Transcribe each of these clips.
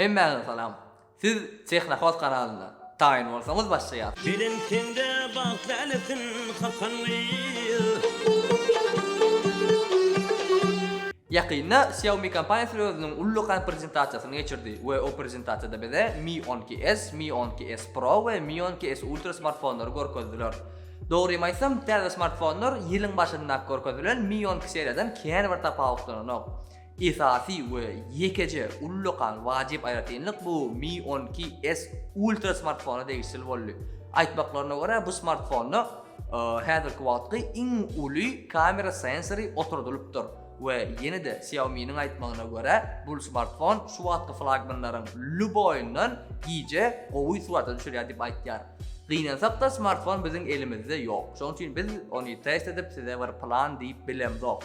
Hemmäňize salam. Siz Tehnohost kanalyna taýyn bolsaňyz başlaýas. Belent sende bagt lälesin hakan gyz. Ýakynda Xiaomi kompaniýasy özüniň ullakan prezentasiýasyny geçirdi we o prezentasiýada bize Mi on iki S, Mi on iki S Pro we Mi on iki S Ultra smartfonlary görkezdiler. Dogrymy aýtsam, täze smartfonlar ýylyň başynda görkezilen Mi on iki seriýadan kän bir tapawutlananok. Esasy we ýekeje ullakan wajyp aýratynlyk bu Mi on iki S Ultra smartfona degişli boldy. Aýtmaklaryna görä, bu smartfonda häzirki wagtky iň uly kamera sensory oturdylypdyr we ýene-de Xiaomi-niň aýtmagyna görä, bu smartfon şu wagtky flagmanlaryň lýuboýundan gije gowy surata düşürýär diýip aýtýar. Gynansak-da, smartfon biziň elimizde ýok. Şonuň üçin biz ony test edip, size bir plan diýip bilemzok.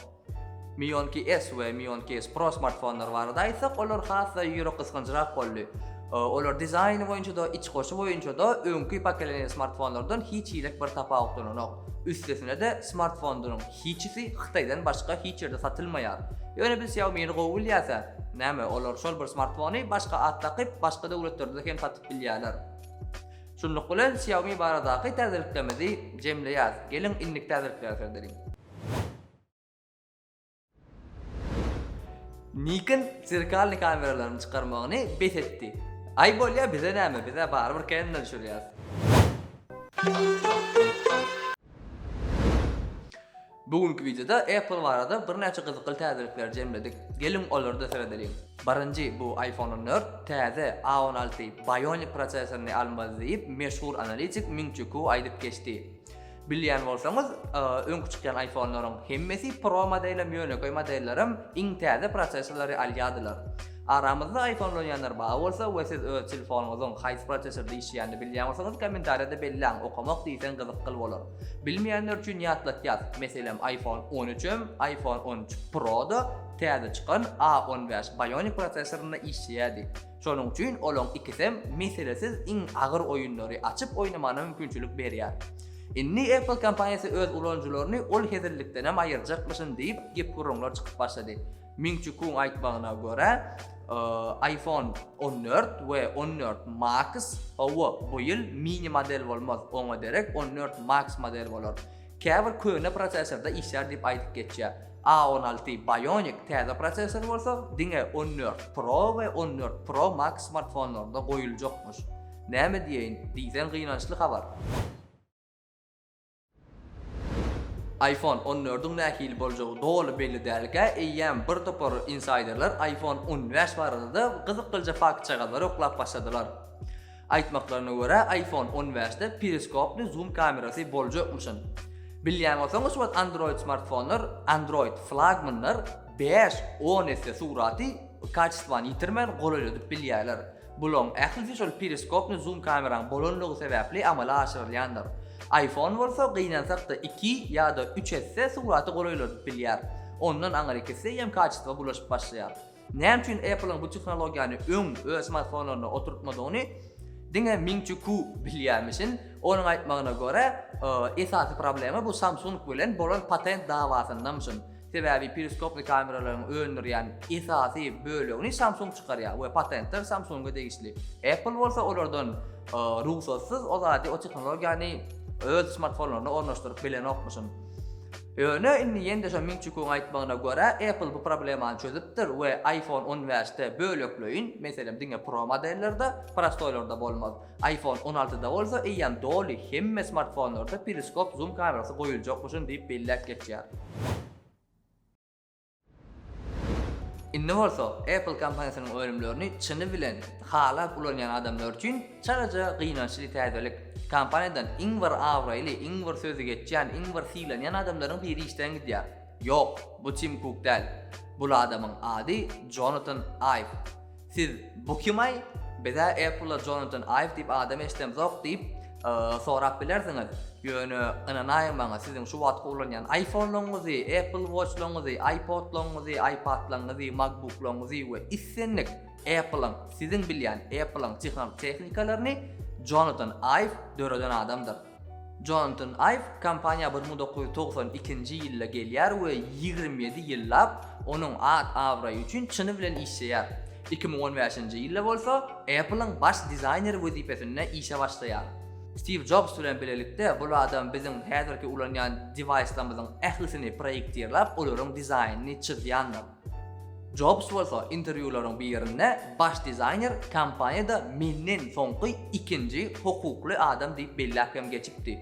Mionki S we Mionki S Pro smartfonlary barada aýtsak, olar has-da ýürek gysganjrak boldy. Olar dizaýny boýunça-da, içgoşy boýunça-da öňki pokoleniýa smartfonlardan hiç hili bir tapawutlananok. Üstesine-de, smartfonlaryň hiçisi Hytaýdan başga hiç ýerde satylmaýar. Ýöne biz Xiaomi-ni gowy bilýäs-ä. Näme, olar şol bir smartfony başga at dakyp, başga döwletlerde hem satyp bilýärler. Şunluk bilen, Xiaomi baradaky täzeliklerimizi jemleýäs. Geliň, indiki täzelikleri seredeliň. Nikon zerkalny kameralaryny çykarmagyny bes etdi. Aý bolýa bize näme bize barybir Canon-dan düşürýäs. Bu günki wideoda Apple barada birnäçe gyzykly täzelikleri jemledik. Geliň olarda seredeliň. Birinji bu iPhone on dört täze A on alty Bionic prosesoryny almaly diýip meşhur analitik Ming Çu Ku aýdyp geçdi. Bilýän bolsaňyz, öňki çykýan iPhone-laryň hemmesi, Pro modelem, ýönekeý modellerem iň täze prosessorlary alýardylar. Aramyzda iPhone ulanýanlar bar bolsa we siz öz telefonyňyzyň haýsy prosessorda işleýänini bilýän bolsaňyz kommentariýada belläň, okamok diýseň gyzykgyl bolar. Bilmeýänler üçin ýatlatýas, meselem iPhone on üç hem iPhone on üç Pro-da täze çykan A on bäş Bionic prosessorynda işleýärdi. Şonuň üçin olaň ikisem meselesiz iň agyr oýunlary açyp oýnamana mümkinçilik berýär. Indi Apple kompaniýasy öz ulanyjylaryny ol hezillikdenem aýyrjakmyşyn diýip gep-gürrüňler çykyp başlady. Ming-Çi Kuň aýtmagyna görä, iPhone on dört we on dört Max, hawa, bu ýyl mini model bolmaz, oňa derek on dört Max model bolar. Käbir köne prosesorda işlär diýip aýdyp geçýär. A on alty Bionic täze prosesor bolsa diňe on dört Pro we on dört Pro Max smartfonlarynda goýuljakmyş. Näme diýeýin, diýseň gynançly habar. Iphone on dördiň nähili boljagy doly belli dälkä, eýýäm bir topar insaýderler Iphone on bäş barada-da gyzyklyja faktjagazlary oklap başladylar. Aýtmaklaryna görä, iPhone on bäşde periskoply zoom kamerasy boljakmyşyn. Bilýän bolsaňyz, şu wagt Android smartfonlar, Android flagmanlar bäş, on esse suraty kaçestwany ýitirmän golaýladyp bilýärler. Bularyň ählisi şol periskoply zoom kameraň bolanlygy sebäpli amala aşyrylýandyr. Iphone bolsa gynansak-da iki ýa-da üç esse suraty golaýladyp bilýär. Ondan aňyrky esse eýýäm kaçestwa bulaşyp başlaýar. Näme üçin Apple-iň bu tehnologiýany öň öz smartfonlaryna oturtmadygyny diňe Ming Chi Ku bilýärmişin. Onuň aýtmagyna görä, esasy problema bu Samsung bilen bolan patent dawasyndamyşyn. Sebäbi periskoply kameralaryň öndürýän esasy bölegini Samsung çykarýar we patentler Samsung-a degişli. Apple bolsa olardan rugsatsyz o zady, o tehnologiýany öz smartfonlaryna ornaşdyryp bilenokmyşyn. Ýöne indi ýene-de şo Ming-Çi Kuň aýtmagyna görä, Apple bu problemany çözüpdir we iPhone on bäşde bölekleýin, meselem, diňe Pro modellerde, prostoýlarda bolmaz. IPhone on altyda bolsa eýýäm doly hemme smartfonlarda periskop-zum kamerasy goýuljakmyşyn diýip belläp geçýär. Indi bolsa Apple kompaniýasynyň önümlerini çyny bilen halap ulanýan adamlar üçin çalaja gynançly täzelik. Kompaniýadan iň bir abraýly, iň bir sözi geçýän, iň bir sylanýan adamlaryň biri işden gidýär. Ýok, bu Tim Kuk däl. Bul adamyň ady Jonatan Iw. Siz bu kimaý? Bizä Apple-a Jonatan Aýw diýip adam eşidemzok diýip, sorap bilersiňiz. Ýöne ynanaýyň maňa, siziň şu wagtky ulanýan iPhone-laryňyzy, Apple Watch-laryňyzy, iPod-laryňyzy, iPad-laryňyzy, MacBook-laryňyzy we islendik Apple-yň, siziň bilýän Apple-yň tehnikalaryny Jonatan Aýw döreden adamdyr. Jonatan Iw kompaniýa bir müň dokuz ýüz togsan ikinji ýylda gelýär we ýigrimi ýedi ýyllap onuň at-abraýy üçin çyny bilen işleýär. Iki müň on bäşinji ýylda bolsa Apple-iň baş dizaýneri wezipesinde işe başlaýar. Stiw Jobs bilen bilelikde bul adam biziň häzirki ulanýan dewaýslarymyzyň ählisini proýektirläp, olaryň dizaýnyny çyzýandyr. Jobs bolsa interwýularyň birinde baş dizaýner kompaniýada menden soňky ikinji hukukly adam diýip belläp hem geçipdi.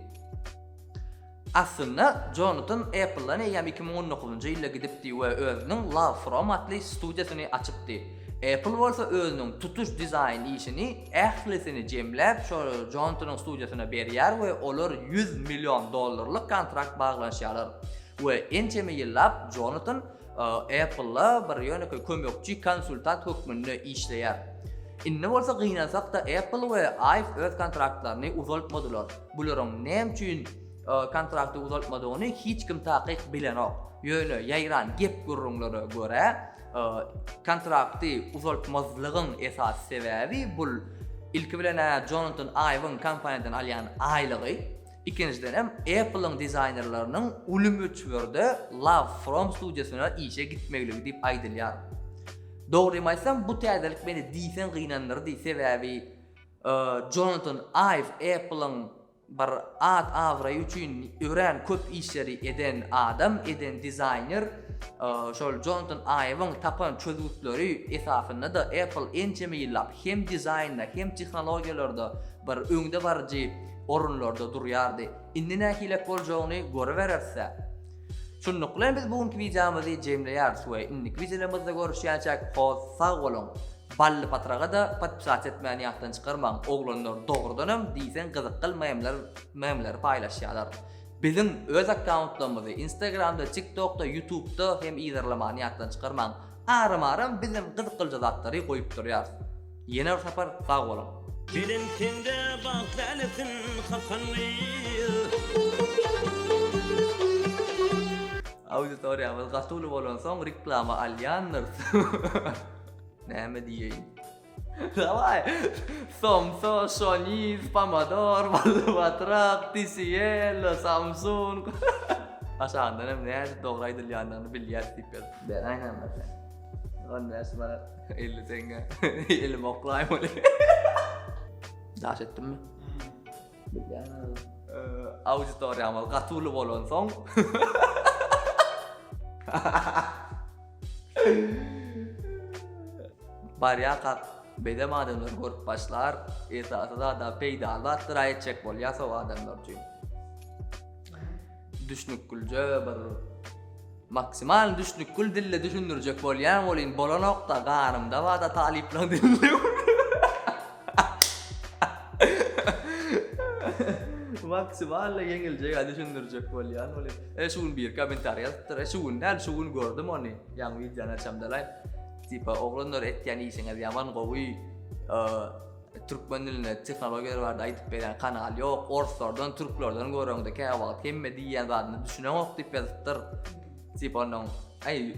Aslynda, Jonatan Apple-dan eýýäm iki müň on dokuzynjy ýylda gidipdi we özüniň Love From atly studiýasyny açypdy. Apple bolsa özüniň tutuş dizaýn işini, ählisini jemläp, şo Jonatanyň studiýasyna berýär we olar ýüz million dollarlyk kontrakt baglanyşýarlar we ençeme ýyllap Jonatan Apple-a bir ýönekeý kömekçi konsultant hökmünde işleýär. Indi bolsa gynansak-da Apple we ice öz kontraktlaryny uzaltmadylar. Bularyň näme üçin kontrakty uzaltmadygyny hiç kim takyk bilenok. Ýöne ýaýran gep-gürrüňlere görä, kontrakty uzaltmazlygyň esasy sebäbi bul ilki bilen-ä Jonatan Iweň kompaniýadan alýan aýlygy. Ikinjiden hem Apple-yň dizaýnerleriniň uly möçberde Love From studiýasyna işe gitmegligi diýip aýdylýar. Dogrymy aýtsam, bu täzelik meni diýseň gynandyrdy, sebäbi Jonatan Iw Apple-yň bir at-abraýy üçin örän köp işleri eden adam, eden dizaýner. Şol Jonatan Iwiň tapan çözgütleri esasynda-da Apple ençeme ýyllap hem dizaýnda, hem tehnologiýalarda bir öňdebaryjy orunlarda durýardy. Indi nähilek boljagyny görübereris-ä. Şunluk bilen biz bu günki wideomyzy jemleýäris we indiki wideolarymyzda görüşýänçäk hoz sag boluň. Bally patraga-da podpisat etmäni ýatdan çykarmaň, oglanlar dogrudanam diýseň gyzykgl memler memleri paýlaşýarlar. Biziň öz akkauntlarymyzy instagramda, tiktokda, ýutubda hem yzarlamany ýatdan çykarmaň. Aram-aram biz hem gyzykylja zatlary goýup durýarys. Ýene bir sapar sag boluň. Bilen sende bagt älesin hakan gyz. Auditoriýamyz gaty uly bolansoň reklama alýandyr. Näme diýeýin. Daway! Somsa, şoniz, pomodor, bally batrak, TCL, Samsung. Aşagyndan hem nädip dogry aýdylýandygyny bilýäs diýip ýaz. Beýle aýnan-da sen. On beş manat. Elli teňňe. Elim oklaýym öli. Daş etdimmi? Bilýän. Auditoriýamyz gaty uly bolan soň. Barýa kak bedem adamlar görüp başlar, esasy zada peýdaly zatlar aýtjak bolýar so adamlar üçin. Düşnükgülje bir maksimal düşnükgül dille düşündirjek bolýan welin bolanokda garymda bada talyplaň dilinde maksimal ýeňiljek düşündirjek bolýan welin e şu gün bir kommentariý ýazypdyr e şu gün näl şu gün gördüm ony ýaňy wideony açamdalaý tipa oglanlar etýän işiňiz ýaman gowy Türkmen dilinde tehnologiýalar barada aýdyp berýän kanal ýok, orslardan, türklerden göreňde käwagt hemme diýýän zadyna düşüneňok diýip ýazypdyr. Tipa onuň, aý,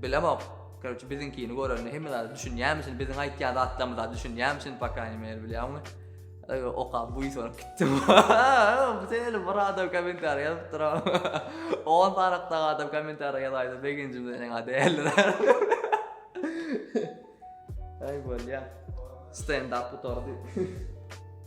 bilemok, korotçe biziňkini görende hemme zada düşünýärmişin, biziň aýtýan zatlarymyza düşünýärmişin, po kraýni meri bilýäňmi? Aý, okap buýsanyp gitdim. Bu şeýle bir adam kommentariý ýazypdyr. On sanakda adam kommentariý ýazaýsa begenjimden eňa däldir. Aý bolýa. Stendap gutardy.